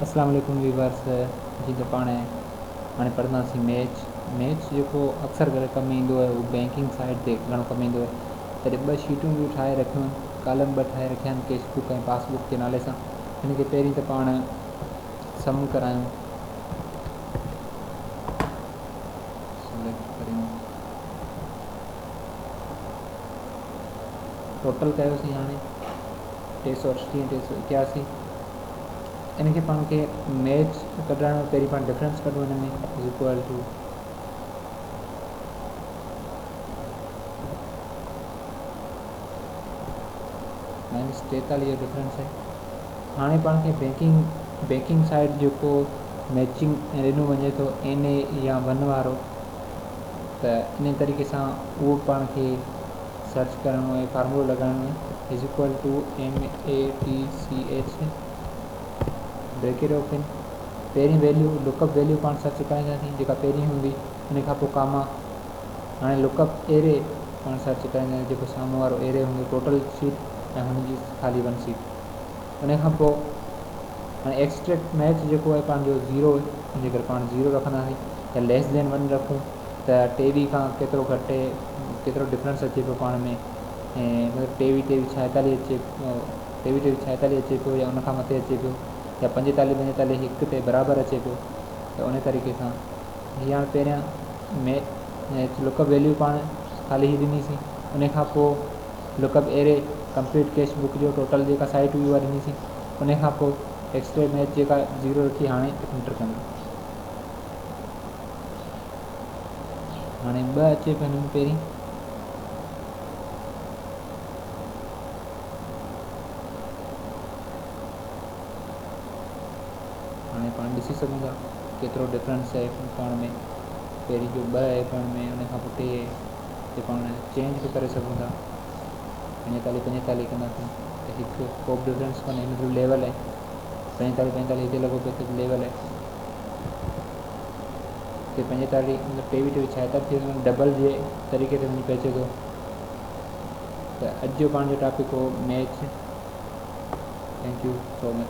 اسلام عليڪم ويورس جي ته پاڻ هاڻي پڙهنداسين ميچ ميچ جيڪو اڪثر ڪري ڪم ايندو آهي اهو بينڪنگ سائيڊ تي گهڻو ڪم ايندو آهي تڏهن ٻه شيٽون به ٺاهي رکيون آهن ڪالم ٻه ٺاهي رکيا آهن ڪيش بڪ ۽ پاس بڪ جي نالي سان هن کي پهرين ته پاڻ سم ڪرايون سليڪٽ ڪريون ٽوٽل ڪيوسين هاڻي ٽي سؤ اٺٽيهه ٽي سؤ اڪياسي ان کي پاڻ کي ميچ ڪڍرائڻو آهي پهرين پاڻ ڊفرينس ڪڍون هن ۾ از اڪول ٽو مائنس ٽيتاليهه جو ڊفرينس آهي هاڻي پاڻ کي بيڪنگ بيڪنگ سائيڊ جيڪو ميچنگ ڏنو وڃي ٿو اين اي يا ون وارو ته انهي طريقي سان اهو پاڻ کي سرچ ڪرڻو اهي فارمولو لڳائڻو اهي is equal to math bracket open پهرين ويليو لوڪ اپ ويليو پاڻ سرچ ڪرائينداسين جيڪا پهرين هوندي انهي کان پوء ڪاما هاڻي لوڪ اپ ايري پاڻ سرچ ڪرائينداسين جيڪو سامهون وارو ايري هوندو ٽوٽل سيٽ ۽ هن جي خالي ون سيٽ انهي کان پوء هاڻي ايڪسٽريڪٽ ميچ جيڪو آهي پنهنجو زيرو جي ڪري پاڻ زيرو رکنداسين يا ليس ذين ون رکون ته ٽي وي کان ڪيترو گهٽ ڪيترو ڊفرنس اچي پيو پاڻ ۾ مطلب ٽي وي ٽيوي ڇائيتالي اچي ٽي وي ٽيوي ڇائيتالي اچي پيو يا ان کان مٿي اچي پيو يا پنجيتالي پنجيتالي هڪ تي برابر اچي پيو ته ان طريقي سان هي هاڻي پهريان ميچ لڪ اپ ويليو پاڻ خالي هي ڏنيسين انهي کان پوء lookup array complete cashback جو ٽوٽل جيڪا سائيٽ هئي اها ڏني سين انهي کان پوء ايڪسٽري ميچ جيڪا زيرو رکي هاڻي انٽر ڪندو هاڻي ٻه اچي پيو هن ۾ پهرين هاڻي پاڻ ڏسي سگهون ٿا ڪيترو ڊفرنس آهي پاڻ ۾ پهرين جو ٻه آهي پاڻ ۾ ان کان پوء ٽي کي پاڻ چينج به ڪري سگهون ٿا پنجيتاليهه پنجيتاليهه ڪنداسين ته هڪ ڪو به ڊفرنس ڪونهي هن مطلب ليول آهي پنجيتاليهه پنجيتاليهه هتي لڳو پيو ته ليول آهي هتي پنجيتاليهه مطلب ٽيويهه ٽيويهه ڇا ٿا ٿي سگهن ڊبل جي طريقي تي وڃي پهچي ٿو ته اڄ جو پاڻ جو ٽاپڪ هو match thank you so much